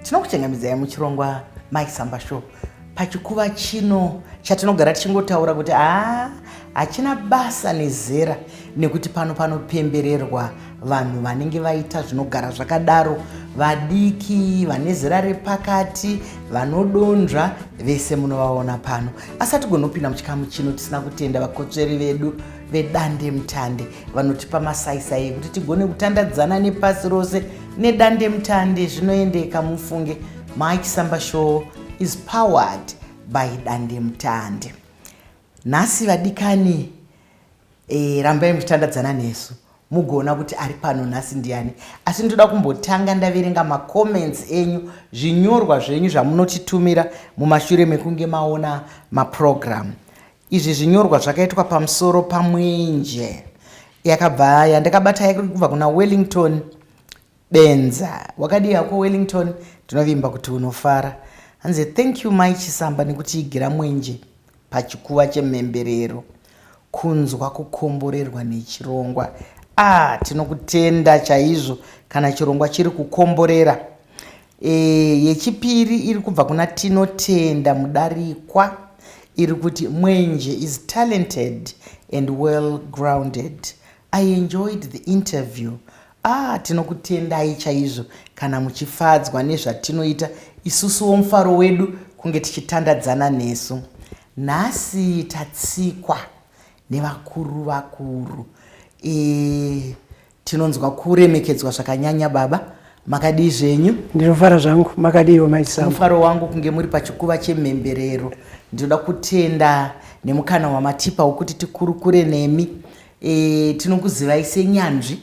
tinokuchengamidzai muchirongwa mike samba show pachikuva chino chatinogara tichingotaura kuti haa hachina basa nezera nekuti pano panopembererwa vanhu vanenge vaita zvinogara zvakadaro vadiki vane zera repakati vanodonzva vese munovaona pano asi hatigonopinda muchikamu chino tisina kutenda vakotsveri vedu vedandemutande vanotipa masaisai ekuti tigone kutandadzana nepasi rose nedandemutande zvinoendeka mufunge mike samba show is powered by dandemutande nhasi vadikani e, rambai muchitandadzana nesu mugoona kuti ari pano nhasi ndiani asi ndoda kumbotanga ndaverenga macomments enyu zvinyorwa zvenyu zvamunotitumira mumashure mekunge maona maprogramu Izvi zvinyorwa zvakaitwa pamusoro pamwenje yakabva yandakabata yari kubva kuna wellington benza wakadii hako wellington ndinovimba kuti unofara hanzi thank you mai chisamba nekutiigira mwenje pachikuva chemhemberero kunzwa kukomborerwa nechirongwa ah tinokutenda chaizvo kana chirongwa chiri kukomborera E, yechipiri iri kubva kuna Tinotenda Mudarikwa iri kuti Mwenje is talented and well grounded. I enjoyed the interview. Ah, tinokutendai chaizvo kana muchifadzwa nezvatinoita isusuwo mufaro wedu kunge tichitandadzana nesu. Nhasi tatsikwa nevakuru vakuru. E, Tinonzwa kuremekedzwa zvakanyanya baba. Makadii zvenyu? Ndinofara zvangu. Makadiiwo mai Sam? Mufaro wangu kunge muri pachikuva chemhemberero. Ndinoda kutenda nemukana wamatipa wokuti tikurukure nemi. E, tinokuzivai senyanzvi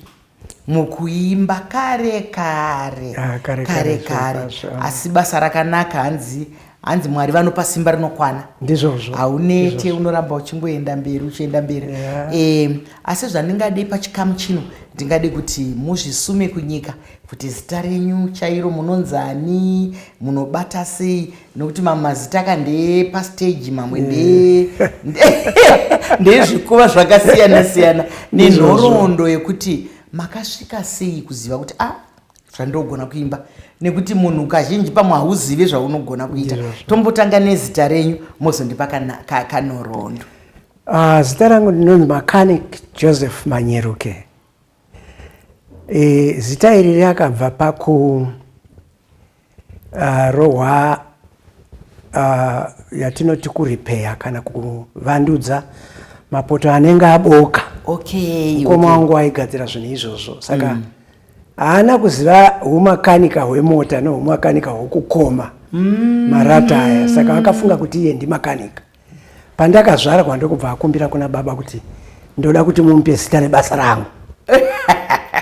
mukuimba kare kare Ah, kare, kare, kare kare zvirokwazvo. asi basa rakanaka hanzi hanzi mwari vanopa simba rinokwana ndizvozvo haunete unoramba uchingoenda mberi uchienda mberi yeah. e, asi zvandingadei pachikamu chino ndingade kuti muzvisume kunyika kuti zita renyu chairo munonzani munobata sei nokuti mamwe mazita aka ndeepasteji mamwe eh. ndezvikuva zvakasiyana siyana nenhoroondo yekuti makasvika sei kuziva kuti a ah, zvandogona kuimba nekuti munhu kazhinji pamwe hauzive zvaunogona kuita tombotanga nezita renyu mozondipa kanhoroondo ah, zita rangu ndinonzi macanic joseph manyeruke e, zita iri rakabva paku ah, rohwa ah, yatinoti kuripeya kana kuvandudza mapoto anenge aboka okay, mukoma okay. wangu aigadzira zvinhu izvozvo saka mm. Haana kuziva humakanika hwemota nohumakanika hwokukoma mm. marata aya saka vakafunga kuti iye ndimakanika. Pandakazvarwa ndokubva akumbira kuna baba kuti ndoda kuti mumupe zita rebasa rangu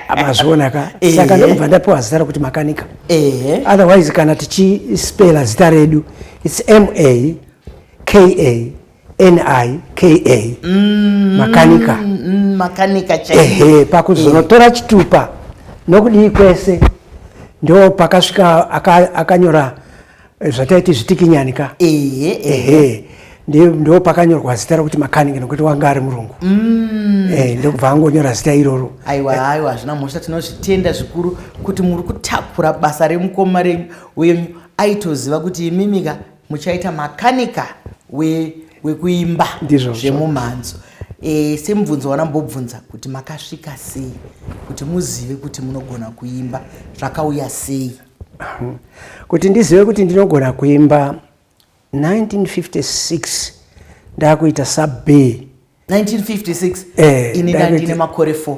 amazviona ka eh. saka ndokubva ndapiwa zita rokuti makanika eh. otherwise kana tichispela zita redu its m a k a nika mm, makanika mm, makanika ehe pakuzonotora eh. chitupa nokudii kwese ndo pakasvika akanyora aka eh, zvataiti zvitikinyani ka ehe, ehe. ndo pakanyorwa zita rokuti makanika nokuti wanga ari murungu mm. e, eh, ndokubva angonyora zita iroro aiwa eh. aiwa hazvina mhosva tinozvitenda zvikuru kuti muri kutakura basa remukoma renyu uye aitoziva kuti imimika muchaita makanika wekuimba we zvemumhanzo e, semubvunzo wanambobvunza kuti makasvika sei kuti muzive kuti munogona kuimba zvakauya sei kuti ndizive kuti ndinogona kuimba 1956 ndakuita sub 1956 eh, ini ndandine makore 4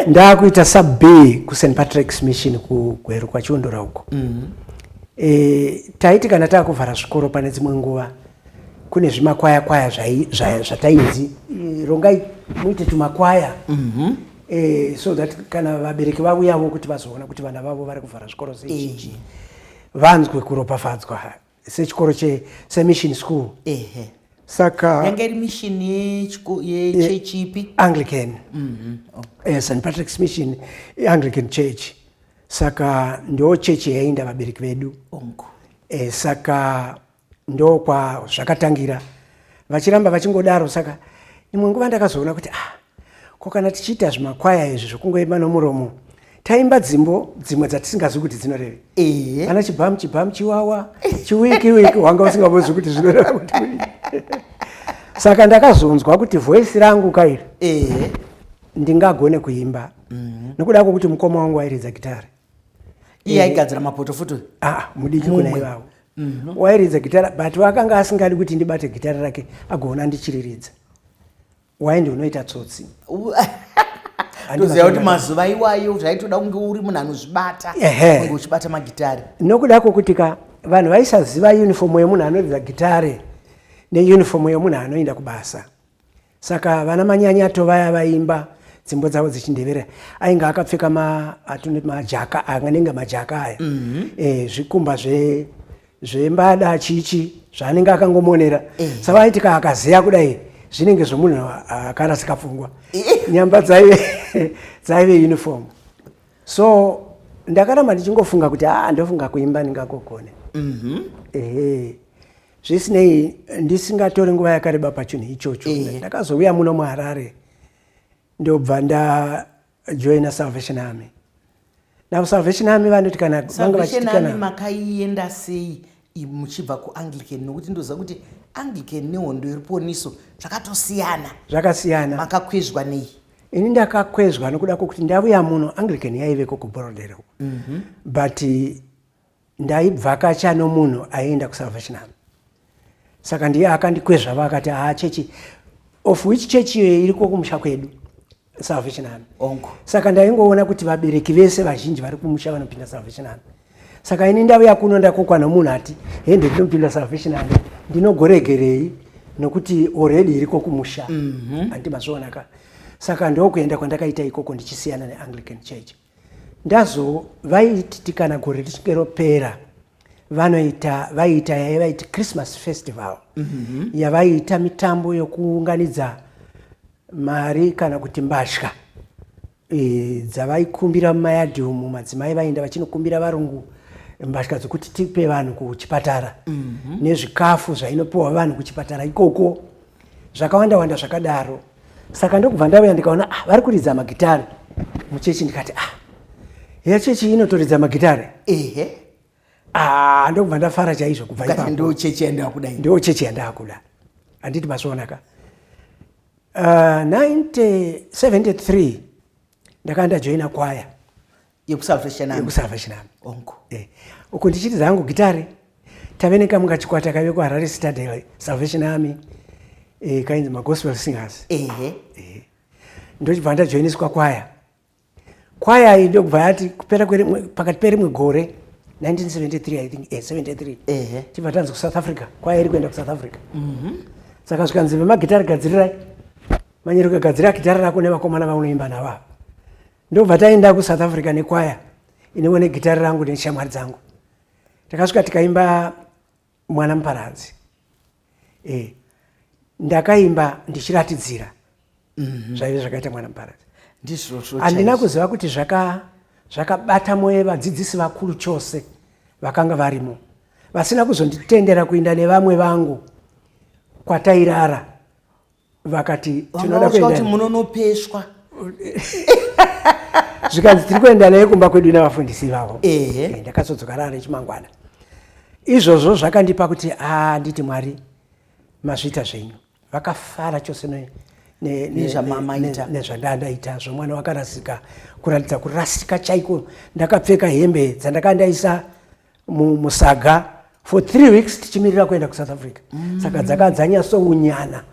ndakuita sub kust patrick's mission kugweru kwachiondora uko mm -hmm. e, taiti kana takuvhara zvikoro pane dzimwe nguva kune zvimakwaya kwaya zvatainzi e, rongai muite tumakwaya mm -hmm. e, so that kana vabereki vauyavo kuti vazoona kuti vana vavo vari kuvhara zvikoro zezhinji e. vanzwe kuropafadzwa sechikoro che semission school ehe saka yanga iri mission yechiko yechurch ipi anglican mm -hmm. oh. eh, st patrick's mission anglican church saka ndo chechi yainda vabereki vedu onko eh, saka ndo kwa zvakatangira vachiramba vachingodaro saka imwe nguva ndakazoona kuti ah Ko kana tichiita zvimakwaya izvi zvokungoimba nomuromo taimba dzimbo dzimwe dzatisingazivi kuti dzinoreve ehe kana chibhamu chibhamu chiwawa chiwiki wiki wanga usingambozivi kuti zvinoreva kuti saka ndakazonzwa kuti voisi rangu kairi ehe ndingagone kuimba mhm. nokuda kwokuti mukoma wangu wairidza gitari iye aigadzira mapoto futi ah, mudiki kuna ivavo mhm. wairidza gitara but wakanga asingadi kuti ndibate gitara rake agoona ndichiriridza Why ndiwe unoita tsotsi? toziva kuti mazuva iwayo zvaitoda kunge uri munhu anozvibata kunge uchibata magitare nokuda kwokuti ka vanhu vaisaziva yunifomu yemunhu anoridza gitare neyunifomu yemunhu anoenda kubasa saka vana manyanyato vaya vaimba dzimbo dzavo dzechindevera ainge akapfeka maatone majaka anganenge majaka aya mhm. eh, zvikumba zve zvembada achichi zvaanenge akangomonera eh. savaiti ka akazeya kudai zvinenge zvomunhu akarasika pfungwa eh. nyamba dzaive dzaive uniform so ndakaramba ndichingofunga kuti haa ah, ndofunga kuimba ndingakogone mhm. ehe zvisinei ndisingatori nguva yakareba pachinhu ichocho eh. ndakazouya muno muharare ndobva nda joina salvation army now salvation army vanoti kana vanga vachitikana makaienda sei muchibva kuanglican nokuti ndoziva kuti anglican nehondo yeruponiso zvakatosiyana zvakasiyana makakwezvwa nei ini ndakakwezvwa nokuda kwokuti ndavuya muno anglican yaiveko kuborodero mm -hmm. but ndaibvakacha nomunhu aienda kusalvation army saka ndiye akandikwezvava akati haa chechi of which church iyoyo iriko kumusha kwedu salvation army onko saka ndaingoona kuti vabereki vese vazhinji vari kumusha vanopinda salvation army saka ini ndave yakuno ndakokwa nomunhu ati hende ndinopinda salvation army ndinogoregerei nokuti already iriko kumusha mm -hmm. andimazvionaka saka ndokuenda kwandakaita ikoko ndichisiyana neanglican church Ndazo vaiti kana gore richinge ropera vanoita vaiita yaivaiti christmas festival mm -hmm. yavaiita mitambo yokuunganidza mari kana kuti mbatya e, dzavaikumbira mumayadhi umu madzimai vaenda vachinokumbira varungu mbatya dzokuti tipe vanhu kuchipatara mm -hmm. nezvikafu zvainopiwa vanhu kuchipatara ikoko zvakawanda wanda zvakadaro saka ndokubva ndauya ndikaona ah, vari kuridza magitare muchechi ndikati ah heya chechi inotoridza magitare ehe ah, ndokubva ndafara chaizvo kubva ipapo ndo chechi yandakuda ndo chechi yandakuda handiti masonaka uh, 1973 ndakanda joina kwaya yekusalvation army yekusalvation army onko eh uko ndichiti zangu gitare tave nekamunga chikwata kave ku Harare Citadel Salvation Army eh kainzi ma gospel singers ehe eh ndochibva ndajoiniswa kwaya kwaya iyi ndokubva yati kupera kwerimwe pakati perimwe gore 1973 i think eh 73 ehe tibva tanzi ku South Africa kwaya iri kuenda ku South Africa mhm mm saka zvikanzi vemagitare gadzirirai manyereka gadzira gitare rako nevakomana vaunoimba navo ndobva taenda kusouth africa nekwaya inewo negitari rangu neshamwari dzangu takasvika tikaimba mwana muparadzi e, ndakaimba ndichiratidzira mhm. zvaive zvakaita mwana muparadzi handina kuziva kuti zvakabata moyo vadzidzisi vakuru chose vakanga varimo vasina kuzonditendera kuinda nevamwe vangu kwatairara vakati tinoda kuenda kuti munonopeshwa zvikanzi tiri kuenda naye kumba kwedu navafundisi vavo eh, ndakazodzoka rara rechimangwana izvozvo zvakandipa kuti handiti ah, mwari mazvita zvenyu vakafara chose nezvandandaita zvomwana wakarasika kuratidza kurasika chaiko ndakapfeka hembe dzandaka ndaisa musaga for three weeks tichimirira kuenda kusouth africa mm. saka dzaka dzanyasounyana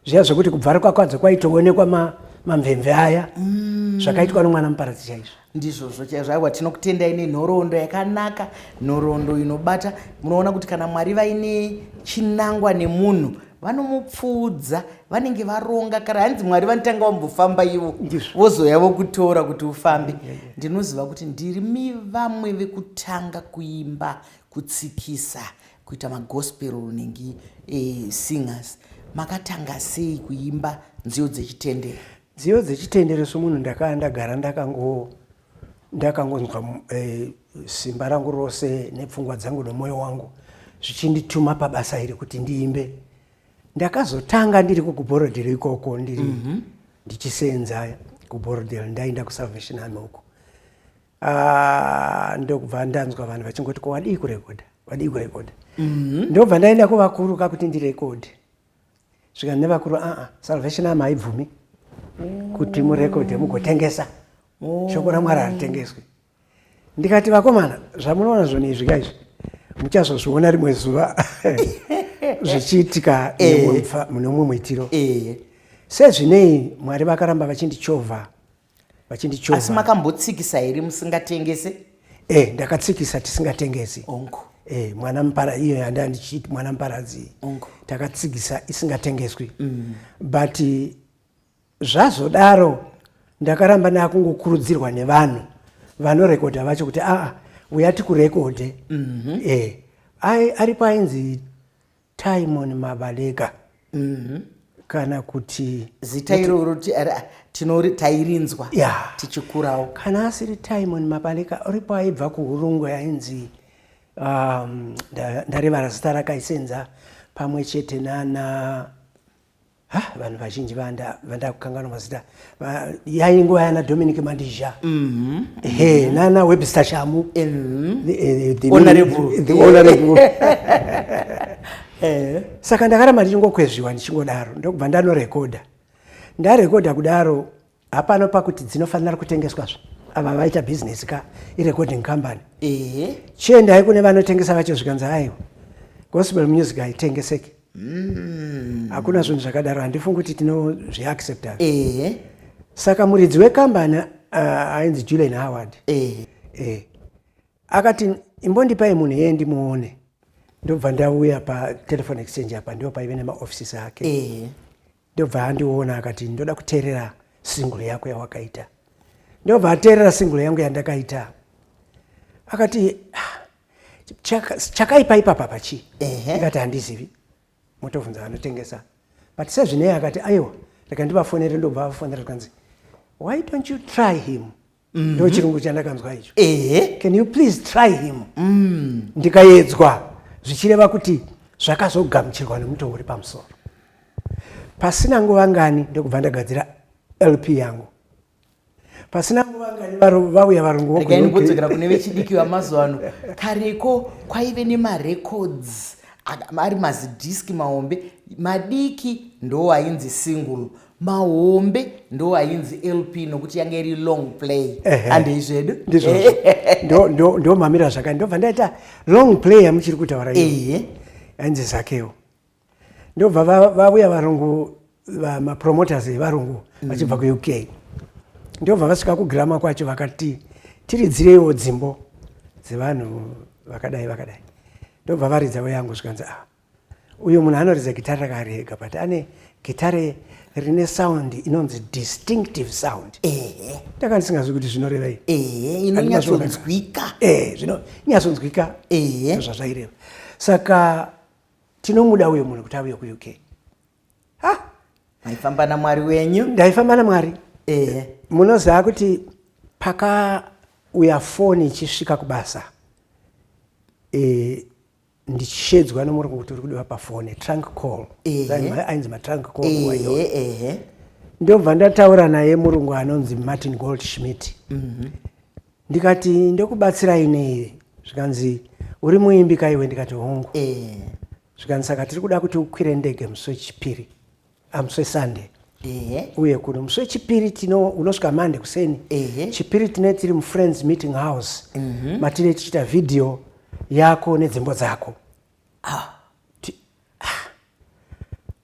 zviya zvekuti kubvarikwa kwadzo kwaitoonekwa ma, mamvemve aya mm. zvakaitwa nomwana muparadzi chaizvo ndizvozvo chaizvo aiwa tinokutendai nenhoroondo yakanaka nhoroondo inobata munoona kuti kana mwari vaine chinangwa nemunhu vanomupfuudza vanenge varonga kare hanzi mwari vanotanga vambofamba ivo vozoya vokutora kuti ufambe ndinoziva kuti ndiri mivamwe vekutanga kuimba kutsikisa kuita magospel nenge e, singers makatanga sei kuimba nziyo dzechitendero nziyo dzechitendero somunhu ndakaa ndagara ndakangoona ndakangonzwa eh, simba rangu rose nepfungwa dzangu nemwoyo wangu zvichindituma pabasa iri kuti ndiimbe ndakazotanga ndiri kukuborodhero ikoko ndiri mm -hmm. ndichiseenza kuborodhero ndaenda kusalvation army uko ah, ndokubva ndanzwa vanhu vachingoti ko wadii kurekodha wadii kurekodha mm -hmm. ndobva ndaenda kuvakuru kakuti ndirekodhe zvikanzi nevakuru aa ah, ah, salvation army haibvumi mm -hmm. kuti murekodhe mugotengesa oh. shoko ramwari haritengeswi ndikati vakomana zvamunoona zvoni izvi ka izvi muchazozviona rimwe zuva zvichiitika eh. mune umwe muitiro eh. sezvinei mwari vakaramba vachindichovha vachindichovha asi makambotsikisa here musingatengese e ndakatsikisa tisingatengesi onko e mwana mupara iyo yanda ndichiti mwana muparadzi onko takatsikisa isingatengeswi mm. but Zvazodaro ndakaramba ndakungokurudzirwa nevanhu vanorekodha vacho kuti aa uya tikurekodhe mm -hmm. eh, ai aripo ainzi timon mabaleka mm -hmm. kana kuti zita iroro tairinzwa yeah. tichikurawo kana asiri timon mabaleka aripo aibva kuhurungu ainzi um, ndarevara zita rakaisenza pamwe chete nana ha vanhu vazhinji vandakukanganwa mazita yai nguva yana dominic mandizha mm-hmm. he nana webster shamu mm-hmm. eh, eh. saka ndakaramba ndichingokwezviwa ndichingodaro ndokubva ndanorekodha ndarekodha kudaro Hapana pakuti dzinofanira kutengeswa zve. Ava vaita business ka irecording company. Ehe. Chiendai kune vanotengesa vacho zvikanzi aiwa. Gospel music haitengeseki. Mm. Hakuna zvinhu zvakadaro handifungi kuti tinozviaccepta. Ehe. Saka muridzi wekambani uh, ainzi Julian Howard. Ehe. Eh. Akati imbondipai munhu yeye ndimuone. Ndobva ndauya pa telephone exchange apa ndipo paive nemaoffices ake. Ehe. Ndobva andiona akati ndoda kuteerera single yako yawakaita. Ndobva ateerera single yangu yandakaita. Akati ah, chakaipa ipapa pachi. Ndikati handizivi. Motobvunza vanotengesa. But sezvinei akati aiwa reka ndivafonere ndobva vafonera zvikanzi why don't you try him? mm-hmm. ndo chirungu chandakanzwa icho ehe can you please try him mm. ndikayedzwa zvichireva kuti zvakazogamuchirwa nemutoo uri pamusoro pasina nguva ngani ndokubva ndagadzira lp yangu pasina nguva ngani vauya varungu vokudzokera kune vechidiki vamazuva ano kareko kwaive nemarecords ari mazidhiski mahombe madiki ndo ainzi single mahombe ndo ainzi lp nokuti yanga iri long play handei zvedu ndo mamira zvakadi ndobva ndaita long play yamuchiri kutaura ehe ainzi zakewo ndobva vavuya varungu mapromoters evarungu mm. vachibva kuuk ndobva vasvika kugrama kwacho vakati tiridzireiwo dzimbo dzevanhu vakadai vakadai ndobva varidzawo yangu zvikanzi a ah, uyo munhu anoridza gitare rakari ega but ane gitare rine sound inonzi distinctive sound ehe ndaka ndisingazivi kuti zvinorevei ehe inonyatsonzwika ehe zvinonyatsonzwika ehe zvazvaireva saka tinomuda uyo munhu kuti auye kuuk ha maifamba namwari wenyu ndaifamba namwari ehe munoziva kuti pakauya foni ichisvika kubasa e, ndichishedzwa nemurume kuti uri kudiwa pafone trunk call ainzi matrunk call iwayo ndobva ndataura naye murungu anonzi martin gold schmidt mhm. ndikati ndokubatsirai nei zvikanzi uri muimbi kaiwe ndikati hongu zvikanzi saka tiri kuda kuti ukwire ndege musi wechipiri amuswe sunday Ehe. uye kuno musi wechipiri tino unosvika mande kuseni Ehe. chipiri tine tiri mufriends meeting house matine tichiita vhidhiyo yako nedzimbo dzako Ti- ah.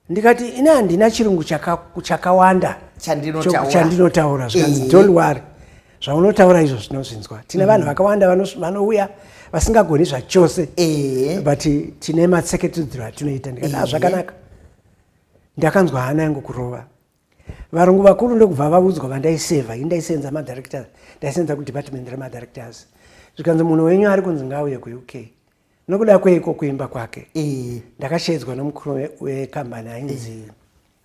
ndikati ini handina chirungu chaka- chakawanda Chandinotaura. choku- chandinotaura zvikanzi Ehe. don't worry zvaunotaura izvo zvinozvinzwa tine vanhu vakawanda vanos- vanouya vasingagoni zvachose Ehe. but tine matseketedzero atinoita ndikati "Ah, Ehe. zvakanaka Ndakanzwa hana yangu kurova. Varungu vakuru ndokubva vaudzwa vandaiseva, ini ndaisenza madirectors, ndaisenza kudepartment remadirectors. Zvikanzi munhu wenyu ari kunzi ngauye kuUK. Nokuda kweiko kuimba kwake? E. Ndakashedzwa nomukuru wekambani ainzi e.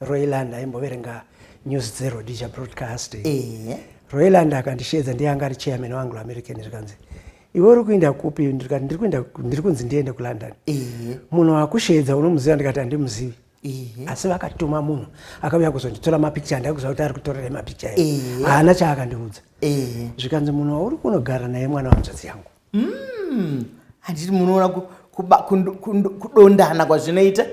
Royland aimboverenga news dzeRhodesia Broadcasting. E. Royland akandishedza ndiye anga ari chairman waAnglo American zvikanzi iwe uri kuenda kupi ndikati ndiri kuenda ndiri kunzi ndiende kulondon munhu wakusheedza unomuziva ndikati handimuzivi asi vakatuma munhu akauya kuzonditora mapikicha handai kuziva kuti ari kutorerei mapikicha e haana chaakandiudza zvikanzi munhu wauri kunogara naye mwana wanzvadzi yangu hmm. handiti munoona kudondana kwazvinoita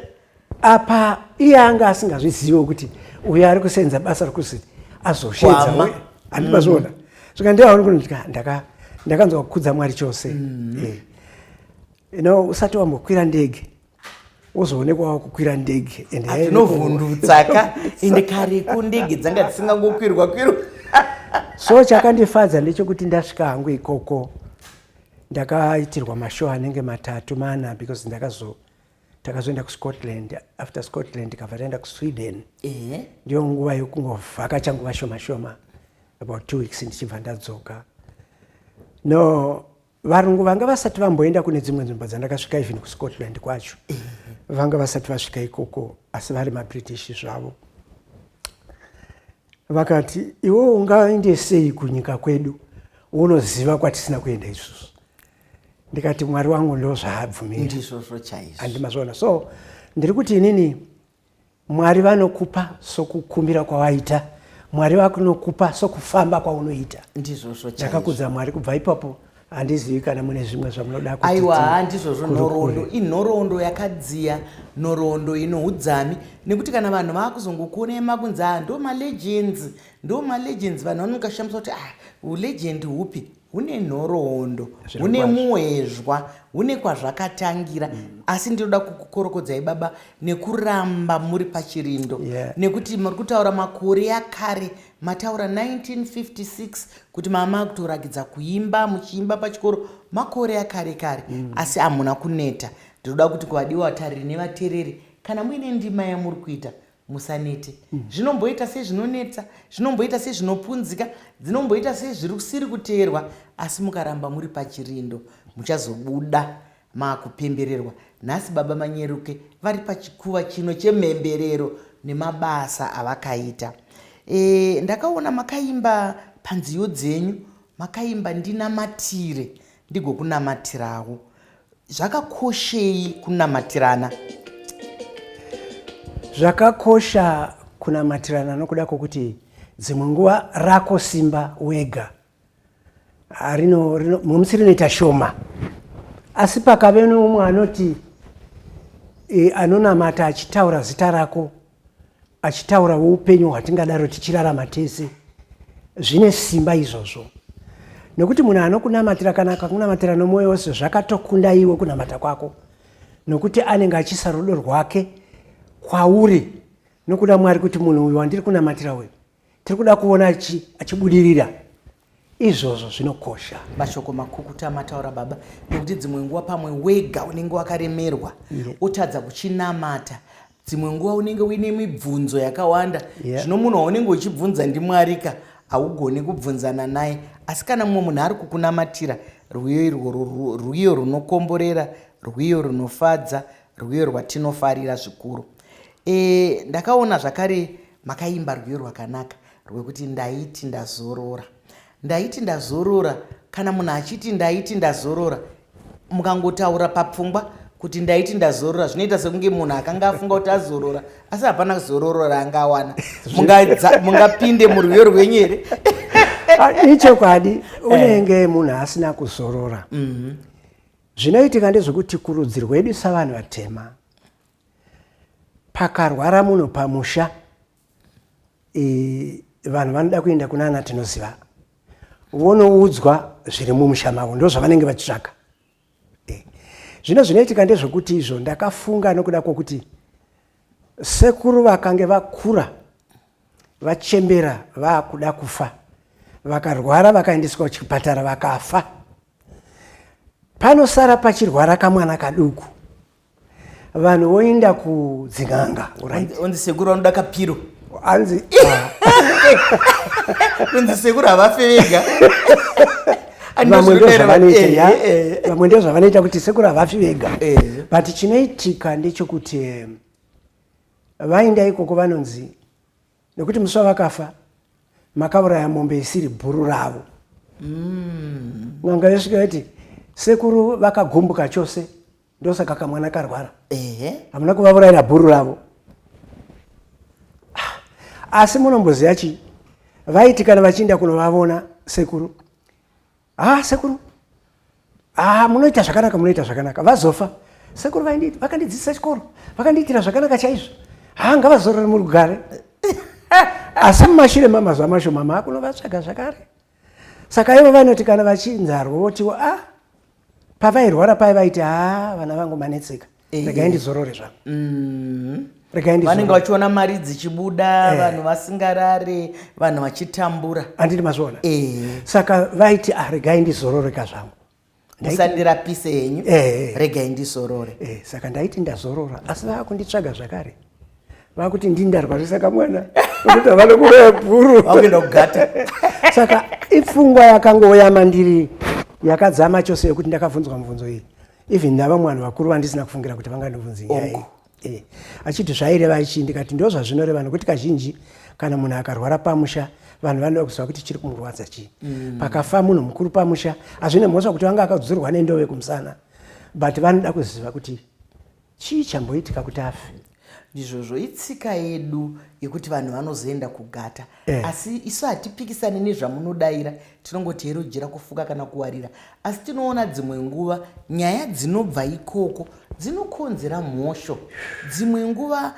apa iye anga asingazvizivo kuti uyo ari kusenza basa rekuti azosheedza Kwama. handi mazviona svika ndiaona kuti ndika- ndaka- ndakanzwa kukudza mwari chose Eh. you know usati wambokwira ndege wozoonekwa wakukwira ndege and hairi adzinovhundutsa ka ende kareko ndege dzanga dzisingangokwirwa kwirwa so chakandifadza ndechekuti ndasvika hangu ikoko ndakaitirwa mashow anenge matatu mana because ndakazo takazoenda kuscotland after scotland tikabva taenda kusweden ndiyo nguva yokungovhakacha nguva shoma shoma about two weeks ndichibva ndadzoka no varungu vanga vasati vamboenda kune dzimwe nzvimbo dzandakasvika even kuscotland kwacho vanga vasati vasvika ikoko asi vari mabritish zvavo vakati iwe ungaende sei kunyika kwedu unoziva kwatisina kuenda isusu ndikati mwari wangu ndozvaabvumira ndizvozvo chaizvo andimazviona so ndiri kuti inini mwari vanokupa sokukumbira kwawaita mwari vakunokupa sokufamba kwaunoita ndizvozvo ndakakudza mwari kubva ipapo handizivi kana mune zvimwe zvamunoda aiwa handizvozvo nhoroondo inhoroondo yakadziya nhoroondo ino udzami nekuti kana vanhu vakuzongokuonei makunzi a ah, ndo malegends ndo malegends vanhu vanokashamisa kuti ah ulegend hupi hune nhoroondo hune muezhwa hune kwazvakatangira mm. asi ndinoda kukukorokodzai baba nekuramba muri pachirindo yeah. nekuti muri kutaura makore yakare mataura 1956 kuti mama akutorakidza kuimba muchiimba pachikoro makore yakare kare mm. asi hamuna kuneta ndinoda kuti kuvadiwa vatariri nevatereri kana muine ndima yamuri kuita Musanete. Zvinomboita sezvinonetsa, zvinomboita sezvinopunzika, dzinomboita sezvirisiri kuteerwa asi mukaramba muri pachirindo muchazobuda makupembererwa. Nhasi baba Manyeruke vari pachikuva chino chemhemberero nemabasa avakaita. E, ndakaona makaimba panziyo dzenyu makaimba ndinamatire ndigokunamatirawo zvakakoshei kunamatirana zvakakosha kunamatirana nokuda kwokuti dzimwe nguva rako simba wega musi rinoita shoma asi pakave noumwe anoti e, anonamata achitaura zita rako achitaura weupenyu hwatingadaro tichirarama tese zvine simba izvozvo nokuti munhu anokunamatira kana akakunamatira nomwoyo wose zvakatokunda iwe kunamata kwako nokuti anenge achisa rudo rwake kwauri nokuda mwari kuti munhu uyu wandiri kunamatira uyu tiri kuda kuona achibudirira izvozvo zvinokosha mashoko makukuta mataura baba nekuti dzimwe nguva pamwe wega unenge wakaremerwa otadza kuchinamata dzimwe nguva unenge uine mibvunzo yakawanda zvino munhu waunenge uchibvunza ndimwarika haugone kubvunzana naye asi kana mumwe munhu ari kukunamatira rwiyo irworwo rwiyo runokomborera rwiyo runofadza Rwiyo rwatinofarira zvikuru. E, ndakaona zvakare makaimba rwiyo rwakanaka rwekuti ndaiti ndazorora. Ndaiti ndazorora, kana munhu achiti ndaiti ndazorora, mukangotaura papfungwa kuti ndaiti ndazorora zvinoita sekunge munhu akanga afunga kuti azorora asi hapana zororo raanga awana mungapinde murwiyo rwenyu here ah, ichokwadi eh. unenge munhu asina kuzorora mhm. Zvinoitika ndezvekuti kurudzi rwedu savanhu vatema pakarwara munhu pamusha e, vanhu vanoda kuenda kuna ana tinoziva vonoudzwa zviri mumusha mavo ndo zvavanenge vachitsvaga e, zvino zvinoitika ndezvekuti izvo ndakafunga nokuda kwokuti sekuru vakange vakura vachembera vakuda kufa vakarwara vakaendeswa kuchipatara vakafa panosara pachirwara kamwana kaduku vanhu voenda kudzin'anga onzi sekuru vanoda kapiro anzi kunzi sekuru havafe vega vamwe ndozvavanoita eh, eh, eh. kuti sekuru havafi vega but chinoitika ndechokuti vaenda ikoko vanonzi nekuti musi wavakafa makauraya mombe isiri bhuru ravo mm. n'anga yosvika yati sekuru vakagumbuka chose ndosaka kamwana karwara hamuna eh. kuvavuraira bhuru ravo ah, asi munomboziva chii vaiti kana vachiinda kunovavona sekuru haa sekuru haa munoita zvakanaka munoita zvakanaka vazofa sekuru vakandidzidzisa chikoro vakandiitira zvakanaka chaizvo haa ngavazorore muri kugare asi mumashure mamazuva mashoma maakunovatsvaga zvakare saka ivo vanoti kana vachinzarwa votiwo a ah, pavairwara paye vaiti haa ah, vana vangu manetseka Eh. regai ndizorore zvangu Mm. regai vanenge ndizorore vachiona mari dzichibuda vanhu vasingarare vanhu vachitambura anditi mazviona Eh. saka vaiti ah, regai ndizororeka zvangu musandirapise henyu Eh. regai ndizorore Eh, saka ndaiti ndazorora asi vakunditsvaga zvakare vakuti ndini ndarwarisa kamwana vakuti havana kuroya bhuru vakuenda kugata saka ipfungwa yakangouya mandiri yakadzama chose yekuti ndakabvunzwa mubvunzo iyi even navamwe vanhu vakuru vandisina kufungira kuti vangandibvunzi nyaya oh. eh, achiti zvaireva chii ndikati ndo zvazvinoreva nokuti kazhinji kana munhu akarwara pamusha vanhu vanoda kuziva kuti chiri kumurwadza chii mm. pakafa munhu mukuru pamusha hazvine mhosva kuti vanga akazudzurwa nendove kumusana but vanoda kuziva kuti Chii chamboitika kuti afe? ndizvozvo itsika yedu yekuti vanhu vanozoenda kugata eh. asi isu hatipikisani nezvamunodaira tinongoti hero jira kufuka kana kuwarira asi tinoona dzimwe nguva nyaya dzinobva ikoko dzinokonzera mhosho dzimwe nguva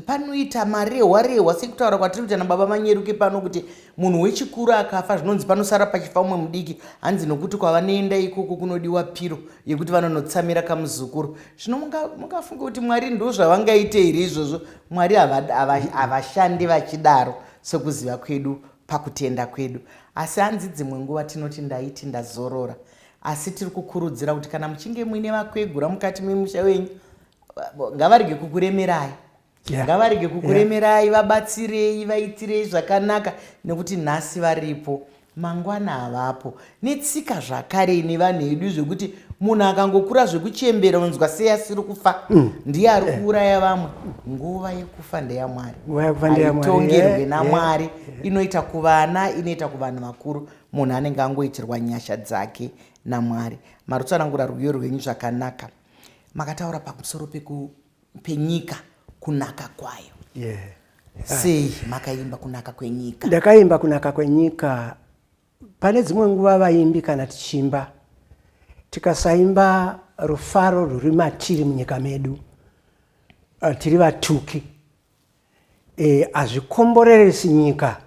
panoita marehwa rehwa sekutaura kwatiri kuita nababa manyeruke pano kuti Munhu wechikuru akafa zvinonzi panosara pachifa umwe mudiki hanzi nokuti kwavanoenda ikoko kunodiwa piro yekuti vanonotsamira kamuzukuru. Zvino mungafunge kuti Mwari ndo zvavangaite here izvozvo? Mwari havashandi vachidaro sekuziva kwedu pakutenda kwedu. Asi hanzi dzimwe nguva tinoti ndaiti ndazorora. Asi tiri kukurudzira kuti kana muchinge muine vakwegura mukati memusha wenyu ngavarege kukuremerai. yeah. ngavarege kukuremerai yeah. vabatsirei vaitirei zvakanaka nekuti nhasi varipo mangwana havapo netsika zvakare ine vanhu edu zvekuti munhu akangokura zvekuchembera unzwa sei asiri kufa mm. ndiye ari eh. kuuraya vamwe nguva yekufa ndeyamwari aitongerwe eh, namwari eh, inoita kuvana inoita kuvanhu vakuru munhu anenge angoitirwa nyasha dzake namwari marutsanangura rwiyo rwenyu zvakanaka makataura pamusoro peku penyika kunaka kwayo yeah. sei makaimba kunaka kwenyika ndakaimba kunaka kwenyika pane dzimwe nguva vaimbi kana tichimba tikasaimba rufaro rwuri matiri munyika medu uh, tiri vatuki e, hazvikomboreresi nyika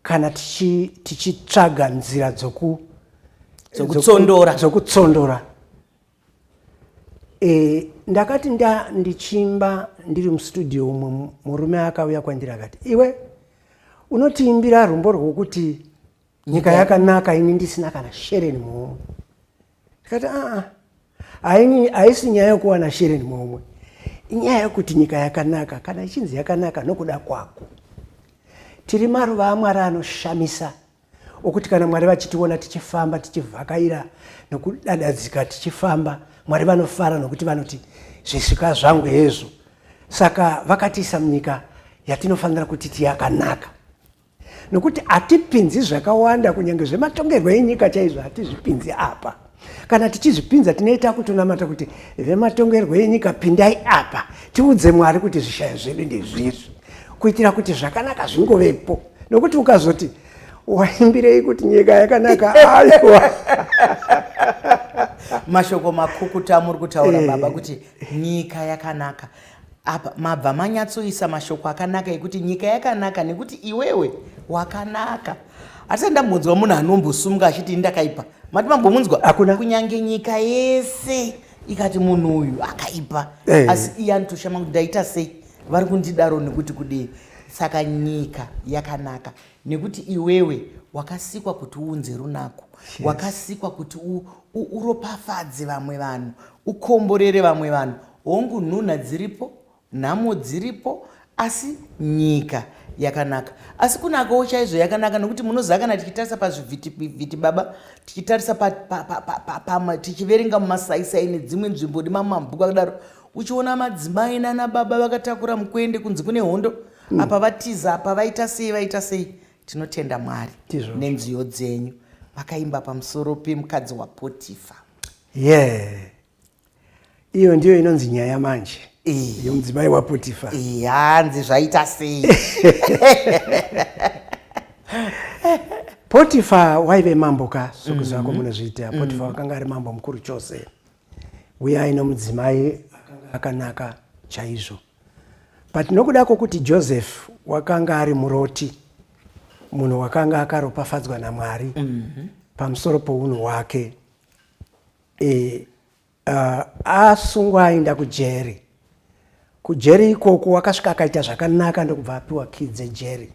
kana tichitsvaga tichi nzira dzoku dzokutsondora dzokutsondora e, ndakati nda ndichimba ndiri mustudio umwe murume akauya kwandiri akati iwe unotiimbira rumbo rwokuti nyika yakanaka ini ndisina kana shereni muhomwe ndikati aa haini haisi nyaya yokuwana shereni momwe inyaya yokuti nyika yakanaka kana ichinzi yakanaka nokuda kwako tiri maruva amwari anoshamisa okuti kana mwari vachitiona tichifamba tichivhakaira nokudadadzika tichifamba mwari vanofara nokuti vanoti zvisvika zvangu hezvo saka vakatiisa munyika yatinofanira kuti tiyakanaka nokuti hatipinzi zvakawanda kunyange zvematongerwo enyika chaizvo hatizvipinzi apa kana tichizvipinza tinoita kutonamata kuti vematongerwo enyika pindai apa tiudze mwari kuti zvishayo zvedu ndezvizvi kuitira kuti zvakanaka zvingovepo nokuti ukazoti waimbirei kuti nyika yakanaka aiwa mashoko makukuta amuri kutaura eh. baba kuti nyika yakanaka Apa mabva manyatsoisa mashoko akanaka ekuti nyika yakanaka nekuti iwewe wakanaka. Asi andambonzwa munhu anombosumuka achiti ndakaipa. Mati mambomunzwa? Hakuna. Kunyange nyika yese ikati munhu uyu akaipa. Hey. Eh. Asi iye anotoshama kuti ndaita sei? Vari kundidaro nekuti kudii? Saka nyika yakanaka nekuti iwewe wakasikwa kuti uunze runako. Yes. Wakasikwa kuti uropafadze vamwe vanhu. Ukomborere vamwe vanhu. Hongu nhunha dziripo, nhamo dziripo asi nyika yakanaka. Asi kunakawo chaizvo yakanaka nokuti munoziva kana tichitarisa pazvivhitivhiti baba, tichitarisa pa, pa, pa, pa, pa, pa, tichiverenga mumasaisai nedzimwe nzvimbo nemamabhuku akadaro, uchiona madzimai nana baba vakatakura mukwende kunzi kune hondo mm. apa vatiza apa vaita sei vaita sei tinotenda mwari nenziyo dzenyu vakaimba pamusoro pemukadzi wapotifa Yeah. Iyo ndiyo inonzi nyaya manje yomudzimai wapotifa hanzi zvaita sei potifa waive mambo ka sokuziva mm-hmm. kwamunozviita mm-hmm. potifa wakanga ari mambo mukuru chose uye aino mudzimai akanaka chaizvo but nokuda kwokuti joseph wakanga ari muroti munhu wakanga akaropafadzwa namwari mm-hmm. pamusoro pounhu hwake e, uh, asungwa aenda kujeri kujeri ikoko wakasvika akaita zvakanaka ndokubva apiwa kii dzejeri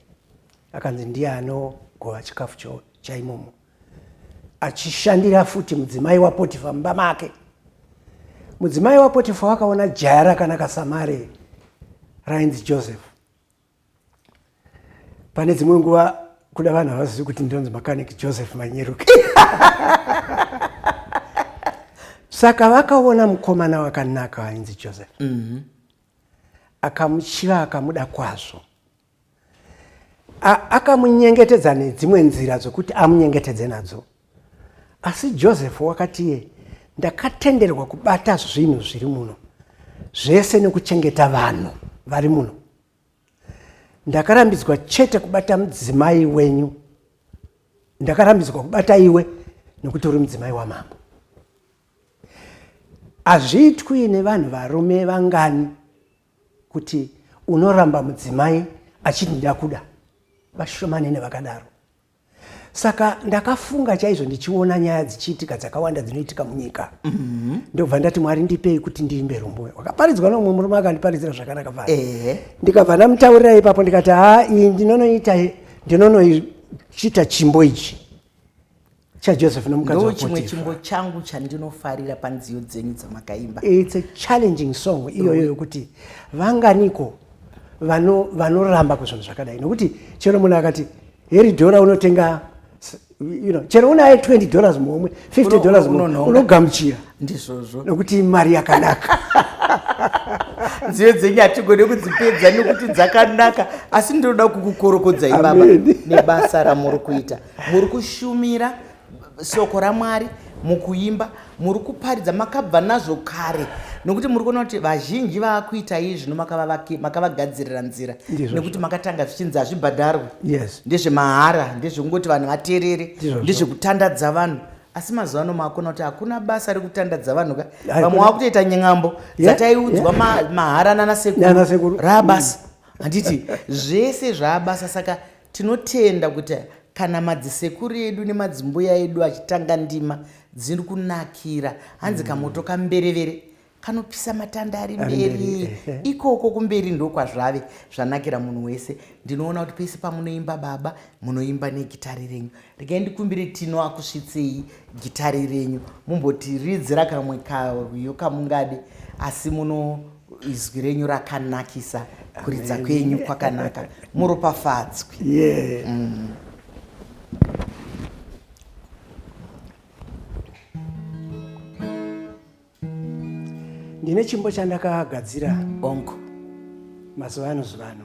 akanzi ndiye anogova chikafu chaimomo achishandira futi mudzimai wapotifa mumba make mudzimai wapotifa wakaona jaya rakanaka samare rainzi joseph pane dzimwe nguva kuda vanhu havazivi kuti ndinonzi mechanic joseph manyeruki saka vakaona mukomana wakanaka ainzi joseph mhm. akamuchiva akamuda kwazvo akamunyengetedza nedzimwe nzira dzokuti amunyengetedze nadzo Asi Joseph wakati iye, Ndakatenderwa kubata zvinhu zviri muno zvese nekuchengeta vanhu vari muno. Ndakarambidzwa chete kubata mudzimai wenyu. Ndakarambidzwa kubata iwe nekuti uri mudzimai wamambo. Hazviitwi nevanhu varume vangani kuti unoramba mudzimai achiti ndakuda. Vashomanene vakadaro. saka ndakafunga chaizvo ndichiona nyaya dzichiitika dzakawanda dzinoitika munyika mhm. ndobva ndati mwari ndipei kuti ndiimbe rumbuyo wakaparidzwa nomumwe murume akandiparidzira zvakanaka va ndikabva ndamutaurira ipapo ndikati haa iyi ndinonoita ndinonoichita chimbo ichi chajoseph nomukadzi chimwe chimbo changu chandinofarira panziyo dzenyu dzamakaimba its a challenging song iyoyo yokuti vanganiko vanoramba kuzvinhu zvakadai nokuti chero munhu akati heri dhora unotenga you know, chero unaye 20 dollars muhomwe 50 dollars unogamuchira ndizvozvo nokuti mari yakanaka nziyo dzenyu hatigone kudzipedza nekuti dzakanaka asi ndinoda kukukorokodzai baba nebasa ramuri kuita muri kushumira shoko ramwari mukuimba muri kuparidza makabva nazvo kare nokuti muri kuona kuti vazhinji vaakuita iyi zvino makavagadzirira nzira nekuti makatanga zvichinzi hazvibhadharwe yes. ndezvemahara ndezvekungoti vanhu vaterere ndezvekutandadza vanhu asi mazuva ano maakona kuti hakuna basa rekutandadza vanhu ka vamwe wakutoita ny'ambo dzataiudzwa mahara nanasekuru raabasa handiti zvese zvaabasa saka Tinotenda kuti kana madzisekuru edu nemadzimbuya edu achitanga ndima dziri kunakira hanzi kamoto kamberevere kanopisa matanda ari mberi ikoko kumberi ndokwazvave zvanakira munhu wese ndinoona kuti pese pamunoimba baba munoimba negitari renyu regai ndikumbire tino akusvitsei gitari renyu mumboti ridzira kamwe karwiyo kamungade asi muno izwi renyu rakanakisa kuridza kwenyu kwakanaka muropafadzwi yeah. mm. ndine chimbo chandakagadzira onko mazuva ano zivano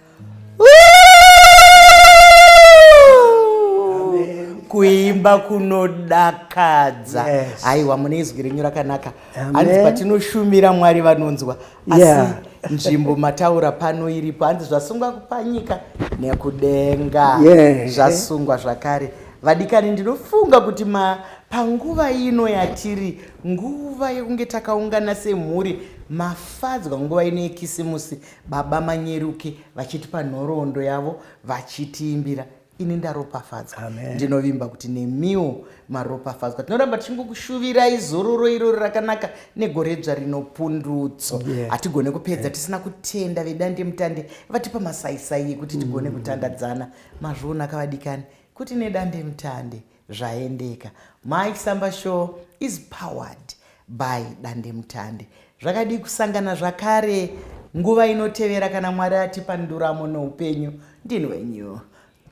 kuimba kunodakadza aiwa mune izwi renyu rakanaka hanzi patinoshumira mwari vanonzwa asi nzvimbo mataura pano iripo hanzi zvasungwa kupanyika nekudenga zvasungwa zvakare vadikani ndinofunga kuti ma panguva ino yatiri nguva yekunge takaungana semhuri mafadzwa nguva ino yekisimusi Baba Manyeruke vachitipa nhoroondo yavo vachitiimbira ini ndaropafadzwa ndinovimba kuti nemiwo maropafadzwa tinoramba tichingokushuvirai zororo irori rakanaka negore dzva rinopundutso hatigone yeah. kupedza yeah. tisina kutenda vedande mutande vatipa masaisai ekuti tigone mm. kutandadzana mazviona kavadikani kuti nedande mutande Zvaendeka. Mai Samba show is powered by Dandemutande. Zvakadii kusangana zvakare nguva inotevera kana Mwari atipa nduramo noupenyu. Ndini wenyu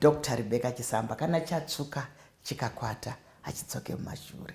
Dr Rebecca Chisamba kana chatsvuka chikakwata hachidzoke mumashure.